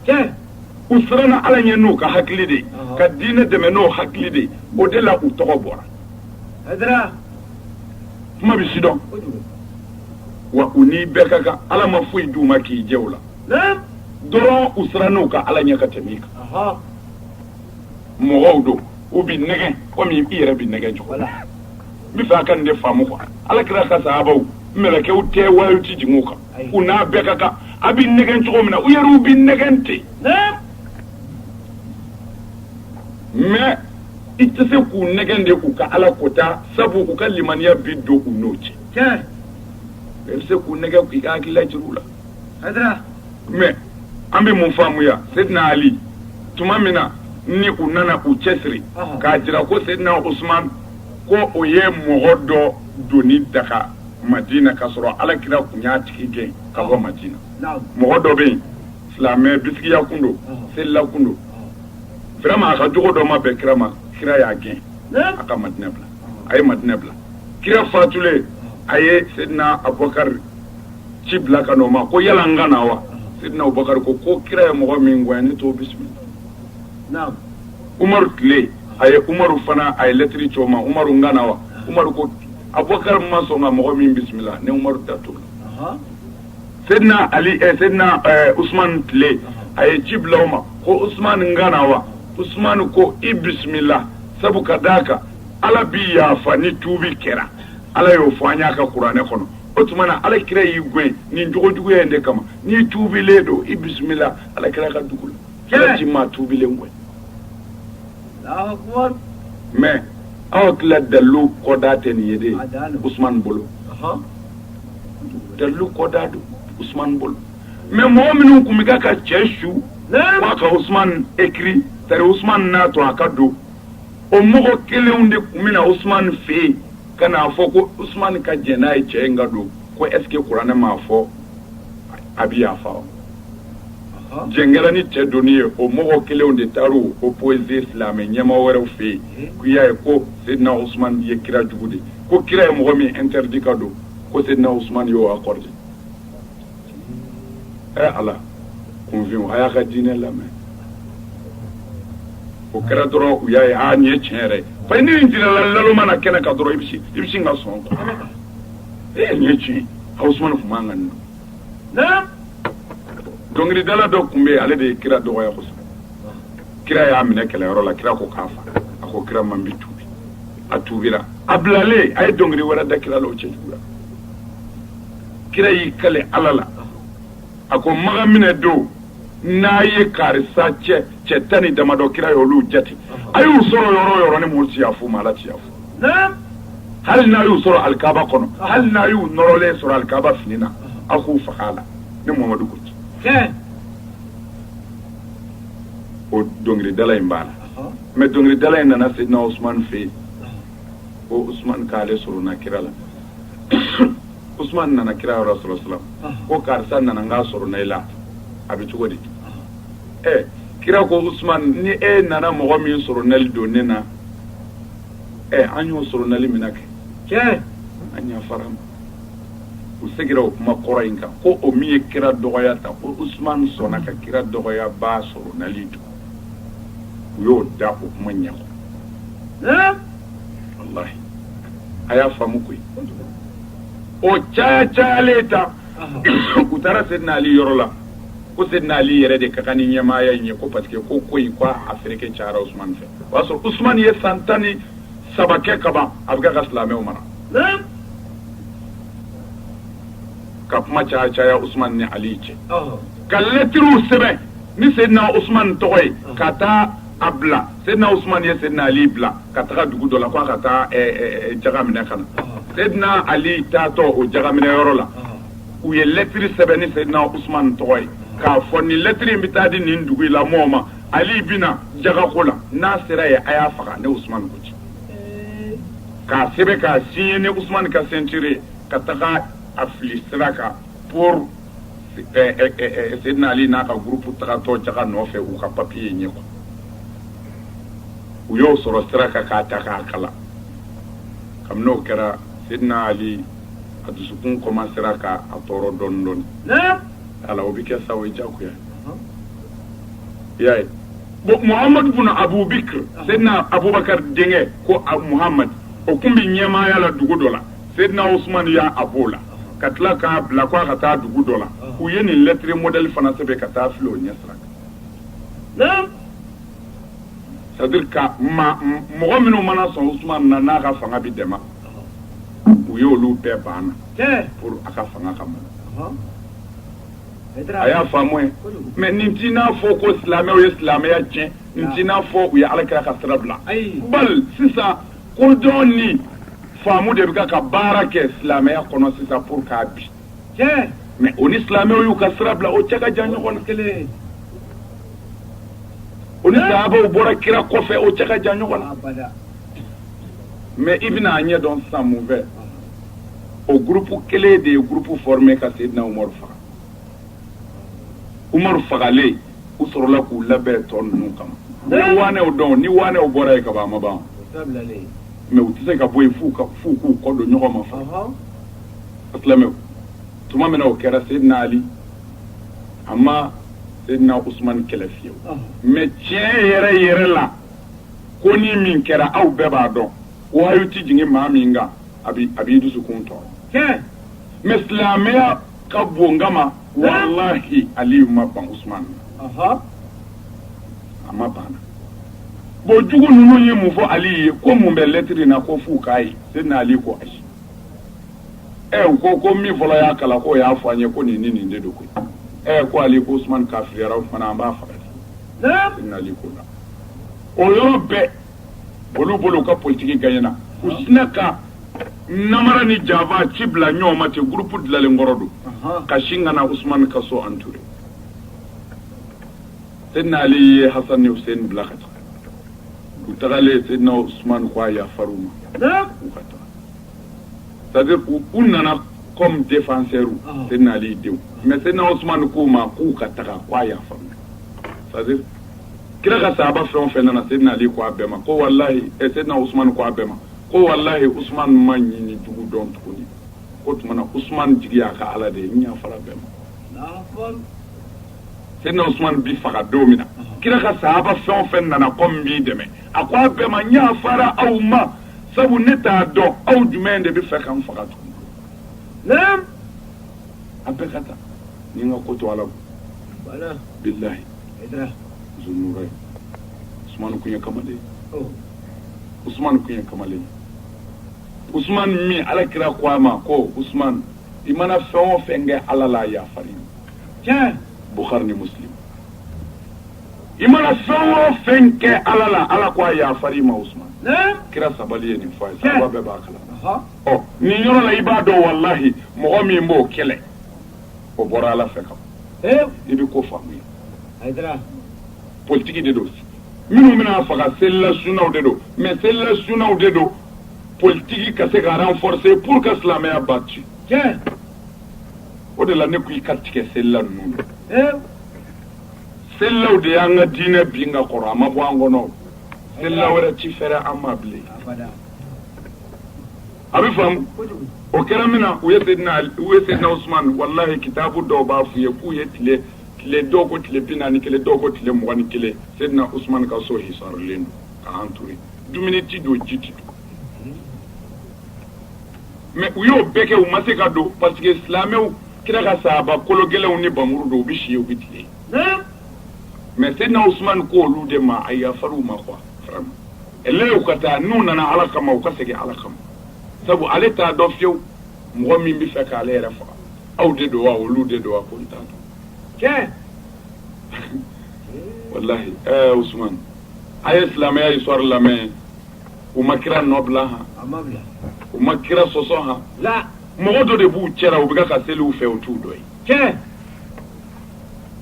tiɲɛ u siranna ala ɲɛ n'u ka hakili de ye ka diinɛ dɛmɛ n'o hakili de ye o de la u tɔgɔ bɔra kuma bɛ sidɔn wa u ni bɛɛ ka kan ala ma foyi d'u ma k'i jɛ o la dɔrɔn u siranna u ka ala ɲɛ ka tɛmɛ i kan mɔgɔw don u bɛ nɛgɛn komi i yɛrɛ bɛ nɛgɛn cogo la n bɛ fɛ a ka nin de faamu quoi ala kira ka sahabaw mɛlɛkɛw tɛ wayiw tɛ jigin u kan u n'a bɛɛ ka kan a bɛ nɛgɛn cogo min na u yɛrɛw bɛ nɛgɛn ten mais i tɛ se k'u nɛgɛn de k'u ka ala kota sabu u ka limaniya bi don u n'o cɛ mais i bɛ se k'u nɛgɛn k'i ka hakilila jira u la mais an bɛ mun faamuya seyidina ali tuma min na ni u nana u cɛsiri k'a jira ko seyidina usman ko o ye mɔgɔ dɔ donni daga madinɛ k'a sɔrɔ ala kira tun y'a tigi gɛn ka bɔ madinɛ mɔgɔ dɔ bɛ yen silamɛ bisigiya kun don selila kun don vraiment a ka jogo dɔ ma bɛn kira ma kira y'a gɛn a ka madinɛ bila a ye madinɛ bila kira fatulen a ye seyidina abubakari ci bila ka n'o ma ko yala n ka na wa seyidina abubakari ko ko kira ye mɔgɔ min gɛn ne t'o bisimila umaru tile a ye umaru fana a ye lɛtiri ci o ma umaru n ka na wa abubakari ma sɔn ka mɔgɔ min bisimila ne umaru da t'o la seyidina ali seyidina usman tile a ye ci bila o ma ko usman n ka na wa usman ko i bisimila sabu ka d'a kan ala bi yafa ni tuubi kɛra ala y'o fɔ an y'a ka kuranɛ kɔnɔ o tuma na ala kira y'i gɛn nin jogojuguya in de kama n'i tuubilen don i bisimila ala kira ka dugu la kira ci maa tuubilen gɛn mais aw tila dalilu kɔda tɛ nin ye de usumani bolo dalilu kɔda don usumani bolo mais mɔgɔ minnu tun bɛ ka cɛ su k'a ka usumani écrit tari usumani n'a to a ka don o mɔgɔ kelenw de tun bɛ na usumani fɛ yen ka n'a fɔ ko usumani ka jɛn n'a ye cɛ in ka don ko est ce que kuranɛ m'a fɔ a bɛ yafa wa jɛn kɛlen ni cɛ donni ye o mɔgɔ kelenw de taara o poser silamɛ ɲɛmaa wɛrɛw fɛ yen k'u y'a ye ko seyidina osman ye kira jugu de ko kira ye mɔgɔ min interdit ka don ko seyidina osman y'o accordé ɛ ala kunfin a y'a ka diinɛ lamɛn o kɛra dɔrɔn u y'a ye a nin ye tiɲɛ yɛrɛ fa ni in jirala lalo mana kɛnɛ kan dɔrɔn i bɛ sin ka sɔn e nin ye tiɲɛ osman tun man kan ni dɔnkilidala dɔ tun bɛ yen ale de ye kira dɔgɔya kosɛbɛ kira y'a minɛ kɛlɛyɔrɔ la kira ko k'a fa a ko kira ma n bɛ tuubi a tuubira a bilalen a ye dɔnkili wɛrɛ da kira la o cɛjugu la kira y'i kali ala la a ko maka minɛ don n'a ye karisa ye cɛ tan ni damadɔ kira ye olu jate a y'u sɔrɔ yɔrɔ o yɔrɔ ne mamadu tɛ yafa u ma ala tɛ yafa u hali n'a y'u sɔrɔ alikaaba kɔnɔ hali n'a y'u nɔrɔlen sɔrɔ alikaaba fini na aw k'u faga a la ne mamadu ko ten o dɔnkilidala in b'a la mais dɔnkilidala in nana sedina usumani fɛ yen ko usumani k'ale solona kira la usumani nana kira yɔrɔ sallallahu salam ko karisa nana n k'a solona i la a bɛ cogo di ɛ kira ko usumani ni e nana mɔgɔ min solonali don ne na ɛ an y'o solonali mina kɛ an yafara a ma u segira o kuma kɔrɔ in kan ko o min ye kira dɔgɔya ta ko usumani sɔnna ka kira dɔgɔyabaa solonali don u y'o da o kuma ɲɛ kɔrɔ walahi a y'a faamu koyi o caya cayalen ta u taara sedina ali yɔrɔ la ko sedina ali yɛrɛ de ka kan ni ɲɛmaaya in ye ko parce que ko ko in ko a fereke cayara usumani fɛ o y'a sɔrɔ usumani ye san tan ni saba kɛ ka ban a bɛ kɛ ka silamɛw mara ka kuma caya caya usumani ni ali cɛ ka lɛtiriw sɛbɛn ni seyidina usumani tɔgɔ ye ka taa a bila seyidina usumani ye seyidina ali bila ka taga dugu dɔ la k'a ka taa jaga minɛ ka na seyidina ali taatɔ o jaga minɛ yɔrɔ la u ye lɛtiri sɛbɛn ni seyidina usumani tɔgɔ ye k'a fɔ nin lɛtiri in bɛ taa di nin dugu in la mɔɔw ma ali bɛna jagako la n'a sera yen a y'a faga ne usumani ko ten k'a sɛbɛn k'a signer ni usumani ka signature ye ka taga a fili sira kan pour sedina ali n'a ka groupe tagatɔ jaga nɔfɛ u ka papiye in ye quoi u y'o sɔrɔ sira kan k'a ta k'a kalan kabini o kɛra sedina ali a dusukun kɔmansera k'a tɔɔrɔ dɔɔni dɔɔni voilà o bɛ kɛ sa u y'a juguya i y'a ye bon muhamadu bun abubakari sedina abubakari denkɛ ko muhamadu o tun bɛ ɲɛmaaya la dugu dɔ la sedina usumani y'a a bɔ a la ka tila k'a bila ko a ka taa dugu dɔ la u ye nin lɛtiri modèle fana sɛbɛn ka taa fili o ɲɛ sira kan c'est-à-dire que mɔgɔ minnu mana sɔn usumani na n'a ka fanga bɛ dɛmɛ u ye olu bɛɛ banna pour a ka fanga kama a y'a faamuya mais nin t'i n'a fɔ ko silamɛw ye silamɛya tiɲɛ nin t'i n'a fɔ u ye ala kira ka sira bila bal sisan kodɔn ni faamu de bɛ ka baara kɛ silamɛya kɔnɔ sisan pour k'a bin mais o ni silamɛw y'u ka sira bila o cɛ ka jan ɲɔgɔn na kelen o ni sahabaw bɔra kira kɔfɛ o cɛ ka jan ɲɔgɔn na mais i bɛna a ɲɛ dɔn sisan mun fɛ o groupe kelen de ye groupe formé ka Seydina umaru faga umaru fagalen u sɔrɔla k'u labɛn tɔ ninnu kama ni waanɛw dɔn ni waanɛw bɔra yen kaban a ma ban mais u tɛ se ka bɔ yen f'u k'u kɔ don ɲɔgɔn ma fa a silamɛw tuma min na o kɛra Seydina ali a ma Seydina usumani kɛlɛ fiyewu mais tiɲɛ yɛrɛ yɛrɛ la ko ni min kɛra aw bɛɛ b'a dɔn wahyu tɛ jigin maa min kan a b'i a b'i dusukun tɔɔrɔ tiɲɛ mais silamɛya ka bon kama walahi aliyu ma ban usman na aha a ma ban na bon jugu ninnu ye mun fɔ ali ye ko mun bɛ lɛtiri in na ko f'u k'a ye seyidina ali ko ayi ɛ u ko ko min fɔlɔ y'a kalan k'o y'a fɔ an ye ko nin ni nin de don koyi ɛ ko ali ko usman kafiriyara o fana an b'a faga de naam seyidina ali ko la o yɔrɔ bɛɛ olu bolo u ka politiki gagnena u sina ka namara ni janfa ci bila ɲɔgɔn ma ten groupe dilalen kɔrɔ don ka sin ka na Ousmane ka so entouré Seydina Ali ye Hassan ni Hussein bila ka taa u tagalen Seydina Ousmane ko a yafar'u ma u ka taa c'est à dire u nana comme défenseur Seydina Ali denw mais Seydina Ousmane k'u ma k'u ka taga ko a yafar'u c'est à dire kira ka sahaba fɛn o fɛn nana Seydina Ali ko a bɛɛ ma ko walahi ɛ Seydina Usumani ko a bɛɛ ma ko walahi Usumani ma ɲin ni jugu dɔn tuguni k'o tuma na Usumani jigi y'a ka Ala de ye n yafara bɛɛ ma Seydina Usumani bi faga don min na kira ka sahaba fɛn o fɛn nana ko n b'i dɛmɛ a ko a bɛɛ ma n yafara aw ma sabu ne t'a dɔn aw jumɛn de b'a fɛ ka n faga tuguni naam a bɛɛ ka taa ni n ka ko to Ala bolo bilahi Hayidara. Zunurayni. Usumani kun ye kamalen ye. Ɔ. Usumani kun ye kamalen ye. Usumani min ala kira ko a ma ko Usumani i mana fɛn o fɛn kɛ ala la a yafar'i ma. Tiɲɛ. Bukhari ni Muslim. i mana fɛn o fɛn kɛ ala la ala ko a yafar'i ma Usumani. Naam. Kira sabali ye nin fɔ a ye. Sahaba bɛɛ b'a kalama. Ɔhɔ. Ɔ nin yɔrɔ la i b'a dɔn walahi mɔgɔ min b'o kɛlɛ. o bɔra ala fɛ kama i bɛ ko faamuya politigi de don minnu bɛna faga selila sunaw de don mais selila sunaw de don politigi ka se ka renforcer pour que silamɛya ba ci o de la ne ko i ka tigɛ selila ninnu selilaw de y'an ka diinɛ bin ka kɔrɔ a ma bɔ an kɔnɔ selila wɛrɛ ti fɛrɛ an ma bilen a bɛ faamu o kɛra min na u ye Seydina u ye Seydina Usumani walahi kitabu dɔw b'a f'u ye k'u ye tile tile dɔw ko tile bi naani ni kelen dɔw ko tile mugan ni kelen Seydina Usumani ka so hisarlen don ka entouré dumuni tɛ don ji tɛ don mais u y'o bɛɛ kɛ u ma se ka don parce que silamɛw kira ka sahaba kolo gɛlɛnw ni npanmuru don u bɛ si u bɛ tile mais Seydina Usumani ko olu de ma a yafar'u ma quoi ɛlɛw ka taa n'u nana ala kama u ka segin ala kama sabu ale t'a dɔn fewu mɔgɔ min bɛ fɛ k'ale yɛrɛ faga aw de don wa olu de don wa ko n t'a dɔn tiɲɛ walahi ɛɛ eh, usumani a ye silamɛya histoire lamɛn u ma kira nɔ bila han u ma kira sɔsɔ han mɔgɔ dɔ de b'u cɛla u bɛ ka seli u fɛ u t'u dɔ ye tiɲɛ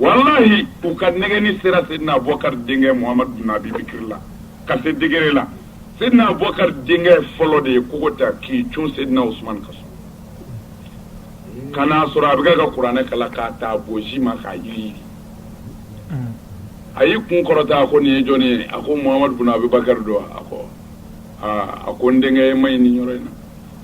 walahi u ka nɛgɛni sera Seydina Abubakari denkɛ Muhamadu bin Abi Bakari la ka se degré la Seydina Abubakari denkɛ fɔlɔ de ye kogo ta k'i cun Seydina Usumani ka so ka n'a sɔrɔ a bɛ kɛ ka kuranɛ kalan k'a ta a boji ma k'a yiri a y'i kun kɔrɔta a ko nin ye jɔni ye a ko Muhamadu bin Abi Bakari don a ko aa a ko n denkɛ e ma ɲi nin yɔrɔ in na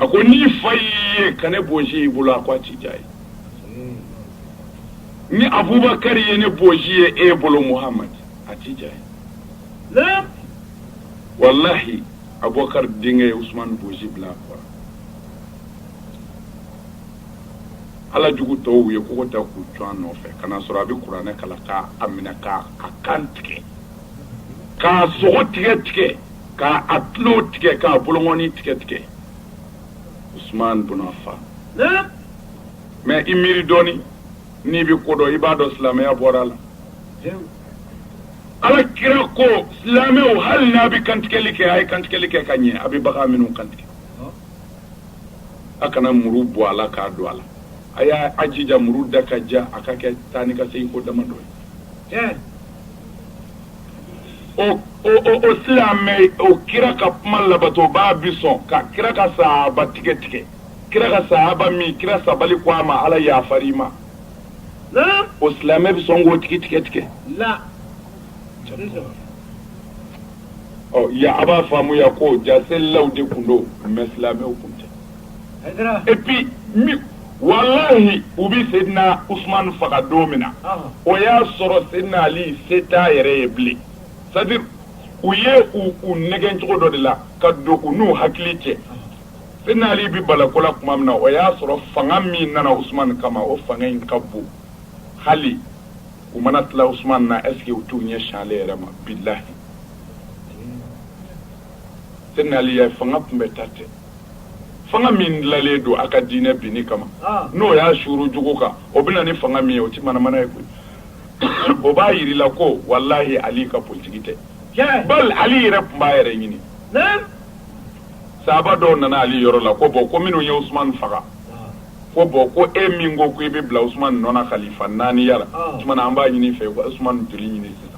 a ko n'i fa y'i ye ka ne boji y'i bolo a ko a ti diya a ye ni abubakari ye ne boji ye e bolo muhamadu a tɛ diya a ye walahi abubakari denkɛ ye usumani boji bila a kɔrɔ ala jugu tɔw ye kogo ta k'u cun a nɔfɛ ka na sɔrɔ a bɛ kuranɛ kalan k'a a minɛ k'a a kan tigɛ k'a sogo tigɛ tigɛ k'a a tulo tigɛ k'a bolongɔni tigɛ tigɛ usman bun Afan mais i miiri dɔɔni n'i bɛ ko dɔn i b'a dɔn silamɛya bɔra a la ala kira ko silamɛw hali n'a bɛ kantigɛli kɛ a ye kantigɛli kɛ ka ɲɛ a bɛ bagan minnu kantigɛ a kana muru bɔ a la k'a don a la a y'a a jija muru da ka ja a ka kɛ taa ni ka segin ko damadɔ ye o silamɛ o kira ka kuma labatobaa bi sɔn ka kira ka sahaba tigɛ tigɛ kira ka sahaba min kira sabali ko a ma ala yafar'i ma o silamɛ bɛ sɔn k'o tigi tigɛ tigɛ a b'a faamuya ko ja selilaw de tun don mais silamɛw tun tɛ et puis même walahi u bɛ Seydina Usumani faga don min na o y'a sɔrɔ Seydina Ali se t'a yɛrɛ ye bilen c'est à dire u ye u u nɛgɛn cogo dɔ de la ka don u n'u hakili cɛ Seydina Ali bɛ bala ko la tuma min na o y'a sɔrɔ fanga min nana Usumani kama o fanga in ka bon hali u mana tila Usumani na est ce que u t'u ɲɛsin ale yɛrɛ ma bilahi Seydina Ali ye fanga kunbɛnta tɛ fanga min dilanlen don a ka diinɛ binni kama ah. n'o y'a suuru jugu kan o bɛ na ni fanga min ye o ti manamana ye koyi o b'a yiri la ko walahi ali ka politiki tɛ bal ali yɛrɛ tun b'a yɛrɛ ɲini sahaba dɔw nana ali yɔrɔ la ko bon ko minnu ye usumani faga ah. ko bon ko e min ko ko i bɛ bila usumani nɔ na kalifa naaniya la ah. tuma na an b'a ɲini i fɛ ko usumani joli ɲini sisan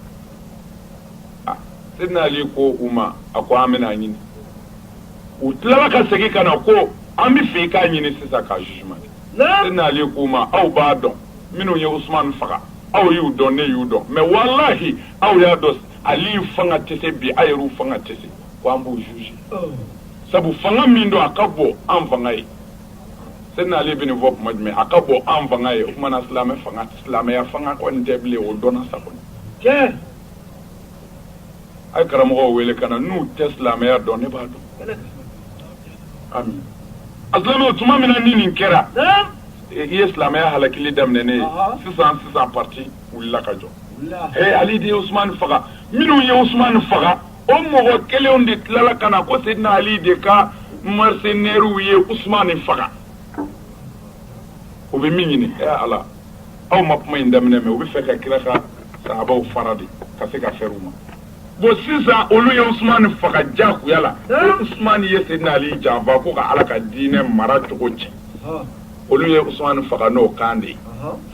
sedina ali ko u ma a ko an bɛn'a ɲini u tilala ka segin ka na ko an b'a fɛ i k'a ɲini sisan k'a jugement kɛ Seydina Ali k'u ma aw b'a dɔn minnu ye Usumani faga aw y'u dɔn ne y'u dɔn mais walahi aw y'a dɔn Ali fanga tɛ se bi aw yɛrɛw fanga tɛ se ko an b'u juger oh. sabu fanga min don a ka bon an fanga ye Seydina Ali bɛ nin fɔ tuma jumɛn a ka bon an fanga ye o tuma na silamɛ fanga silamɛya fanga kɔni tɛ bilen o dɔnna sa kɔni tiɲɛ a ye karamɔgɔw wele ka na n'u tɛ silamɛya dɔn ne b'a dɔn a mais aslan o tuma min na ni nin kɛra i ye silamɛya halakili daminɛnen ye sisan sisan parti wulila ka jɔ ee ali de ye usumani faga minnu ye usumani faga o mɔgɔ kelenw de tilala ka na ko sedina ali de ka mercenairew ye usumani faga o bɛ min ɲini ee ala aw ma kuma in daminɛ mɛ u b'a fɛ ka kira ka sahabaw fara de ka se ka fɛrɛ u ma bon sisan olu ye usumani faga jagoya la usumani ye sedina ali janfa ko ka ala ka diinɛ mara cogo cɛn olu ye usumani faga n'o kan de ye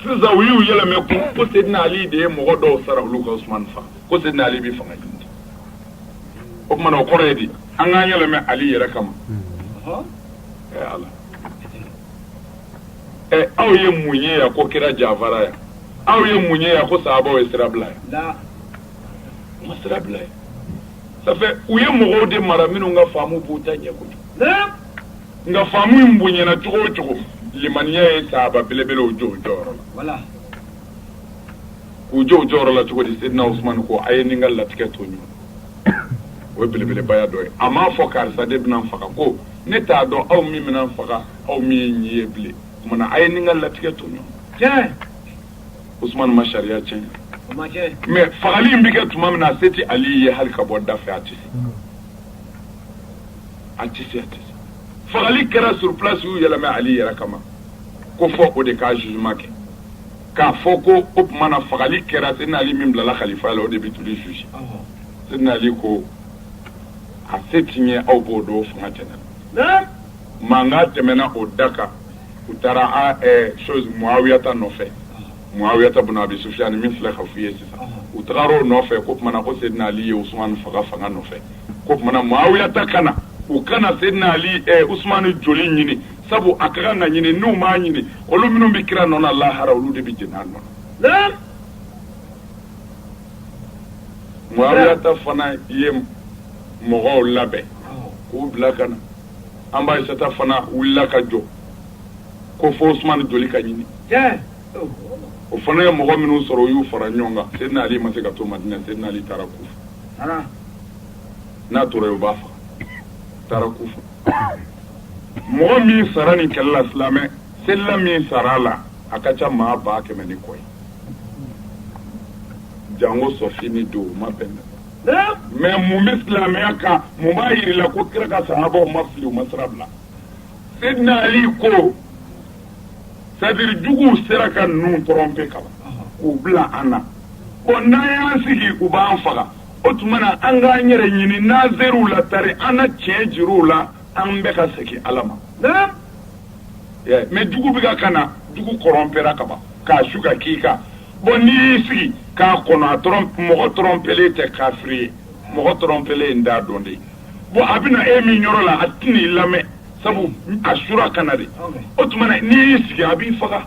sisan u y'u yɛlɛmɛ ko ko sedina ali de ye mɔgɔ dɔw sara olu ka usumani faga ko sedina ali bɛ fanga ɲini o tuma na o kɔrɔ ye di an k'an yɛlɛmɛ ali yɛrɛ kama ala ɛ aw ye mun ye yan ko kira janfara yan aw ye mun ye yan ko sahabaw ye sira bila yan u ma sira bila yan ça fait u ye mɔgɔw de mara minnu ka faamu b'u ta ɲɛ kojugu nka faamu in bonyana cogo o cogo limaniya ye sahaba belebelew jɔ u jɔyɔrɔ la k'u jɔ u jɔyɔrɔ la cogo di sedina usumani ko a ye n ni n ka latigɛ to ɲɔgɔn o ye belebelebaya dɔ ye a m'a fɔ karisa de bɛna n faga ko ne t'a dɔn aw min bɛna n faga aw min ye nin ye bilen o tuma na a ye nin ka latigɛ to ɲɔgɔn Usumani ma sariya tiɲɛ mais fagali in bɛ kɛ tuma min na a se tɛ Ali ye hali ka bɔ da fɛ a tɛ se a tɛ se a tɛ se fagali kɛra sur place y'u yɛlɛmɛ Ali yɛrɛ kama ko fo o de ka jugement kɛ k'a fɔ ko o tuma na fagali kɛra Seydina Ali min bilala kalifaya la o de bɛ t'olu juger Seydina Ali ko a se ti n ye aw b'o dɔn fanga tɛ ne la. mankan tɛmɛna o da kan u taara chose mɔawiyata nɔfɛ mɔawiyata bun abi Sufiyani min filɛ ka f'u ye sisan u taara o nɔfɛ k'o tuma na ko Seydina ali ye usumani faga fanga nɔfɛ k'o tuma na mɔawiyata ka na u ka na Seydina ali usumani joli ɲini sabu a ka kan ka ɲini n'u m'a ɲini olu minnu bɛ kira nɔ na lahara olu de bɛ jeni a nɔ na mɔawiyata fana ye mɔgɔw labɛn k'u bila ka na an ba Aisata fana wulila ka jɔ ko fo Usumani joli ka ɲini o fana ye mɔgɔ minnu sɔrɔ o y'u fara ɲɔgɔn kan Seydina Ali ma se ka to Madina Seydina Ali taara Kufa n'a tora yen u b'a faga taara Kufa mɔgɔ min sara nin kɛlɛ la silamɛ selila min sara a la a ka ca maa ba kɛmɛ ni kɔ ye jango Sɔfini don o ma bɛn mais mun bɛ silamɛya kan mun b'a jir'i la ko kira ka sahabaw ma fili u ma sira bila Seydina Ali ko c'est-à-dire jugu sera ka ninnu tromper kaban k'u bila an na bon n'an y'an sigi u b'an faga o tuma na an k'an yɛrɛ ɲini n'an ser'u la tari an na tiɲɛ jir'u la an bɛ ka segin ala ma mais jugu bɛ ka na jugu corrompera kaban k'a su ka k'i kan bon n'i y'i sigi k'a kɔnɔ a mɔgɔ trompelen tɛ kafiri ye mɔgɔ trompelen ye n t'a dɔn de bon a bɛna e min yɔrɔ la a tɛna i lamɛn sabu a sura ka na de o tuma na n'i y'i sigi a b'i faga